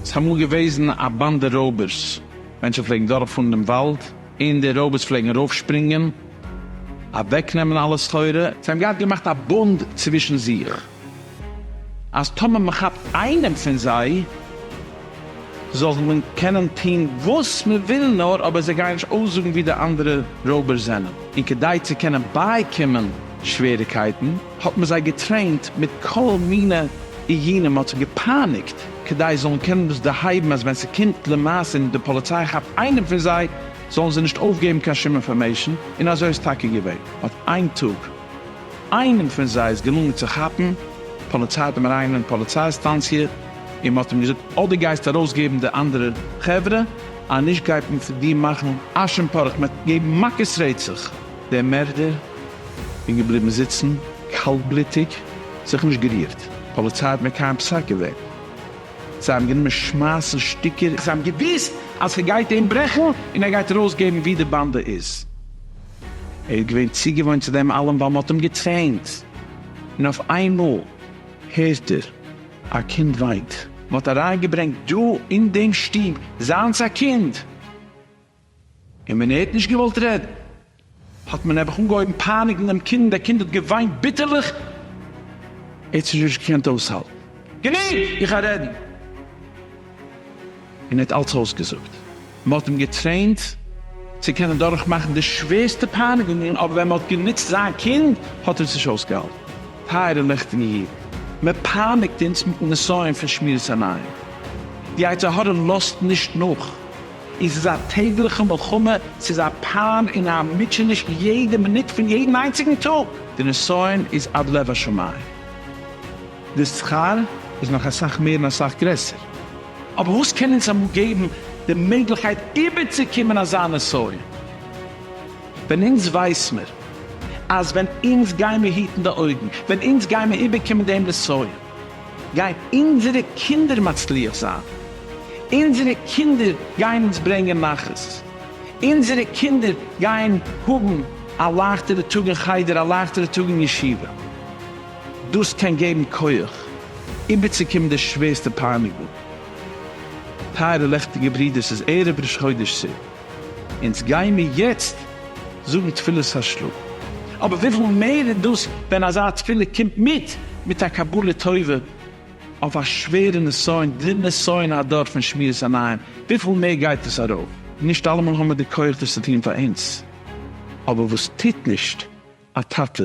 ס'איז אמאל געוועזן א באנדע רויבערס. מענטשן פלעגן דורכפארן דעם וואלד, און די רויבערס פלעגן ארויפשפרינגען, אוועקנעמען אלע סחורה. זיי האבן געהאט געמאכט א בונד צווישן זיך. אז טאמער מען כאפט איינעם פון זיי זאל מען קענען טון וואס מען וויל נאר, אבער זיי גייען נישט אויסזאגן ווי די אנדערע רויבערס זענען, און כדי צו קענען בייקומען שוועריגקייטן האט מען זיי געטרעינט מיט כל מיני איומים, מען האט זיי געפייניגט כדי זיי זאלן קענען דאס דערהייבן אז ווען ס'קומט למעשה און די פאליציי כאפט איינעם פון זיי זאלן זיי נישט אויפגעבן קיין שום אינפארמעישן, און אזוי איז טאקע געווען. אט איין טאג. איינעם פון זיי איז געלונגען צו כאפן, פאליציי האט אים אריינגענומען אין פאליציי סטאנציע, און מען האט אים געזאגט, אדער גייסטו ארויסגעבן די אנדערע חברה, אז נישט גייט מען פון דיר מאכן אש און פארעך, מען וועט געבן מכות רצח. דער מערדער איז געבליבן זיצן קאלטבלוטיג, זיך נישט גערירט, פאליציי האט מקיים פסק געווען, זיי האבן גענומען שמייסן שטיקער, זיי האבן געוואוסט אז ס'גייט אים ברעכן און ער גייט ארויסגעבן ווי די באנדע איז. ער איז געווען צוגעוואוינט צו דעם אלעם ווייל מ'האט אים געטרעינט, און אויף איינמאל הערט ער א קינד וויינט. מ'האט אריינגעברענגט דא אין דעם שטוב זיינס א קינד, און ווען ער האט נישט געוואלט רעדן האט מען נעבעך אנגעהויבן פייניגן דעם קינד, דער קינד האט געוויינט ביטערליך, ער האט שוין נישט געקענט אויסהאלטן, גענוג! איך גיי רעדן! און ער האט אלץ אויסגעזאגט. מען האט אים געטרעינט צו קענען דורכמאכן די שווערסטע פייניגונגען, אבער ווען מען האט גענוצט זיין קינד האט ער עס נישט אויסגעהאלטן. טייערע ליכטיגע אידן, מען פייניגט אונז מיטן נסיון פון שמירת עיניים. די יצר הרע לאזט נישט נאך. עס איז א טעגליכע מלחמה, עס איז א פיין און א מוטשעניש יעדע מינוט פון יעדן איינציגן טאג. די נסיון איז עד לב השמים. די שכר איז נאך אסאך מער און אסאך גרעסער. אבער וואס קען אונז אמאל געבן די מעגליכקייט איבערצוקומען אזא נסיון? ווען אונז ווייס מיר אז ווען אונז גיימיר היטן די אויגן, ווען אונז גיימיר איבערקומען דעם נסיון, גייען אונזערע קינדער מצליח זיין, אונזערע קינדער גייען אונז ברענגען נחת, אונזערע קינדער גייען האבן א לייכטערע טאג אין חדר, א לייכטערע טאג אין ישיבה. דאס קען געבן כח איבערצוקומען די שווערסטע פייניגונג. טייערע לעכטיגע ברידער, ס'איז ערב ראש חודש סי, אונז גיימיר יעצט זאגן תפילת השלום. אבער וויפיל מער איז דאס ווען אזא תפילה קומט מיט מיט א קבלה טובה אויף א שווערע נסיון, די נסיון הדור פון שמירת עיניים, וויפיל מער גייט עס ארויף. נישט אלעמאל האבן מיר די כח דאס צו טון פאר אונז, אבער וואס טוט נישט א טאטע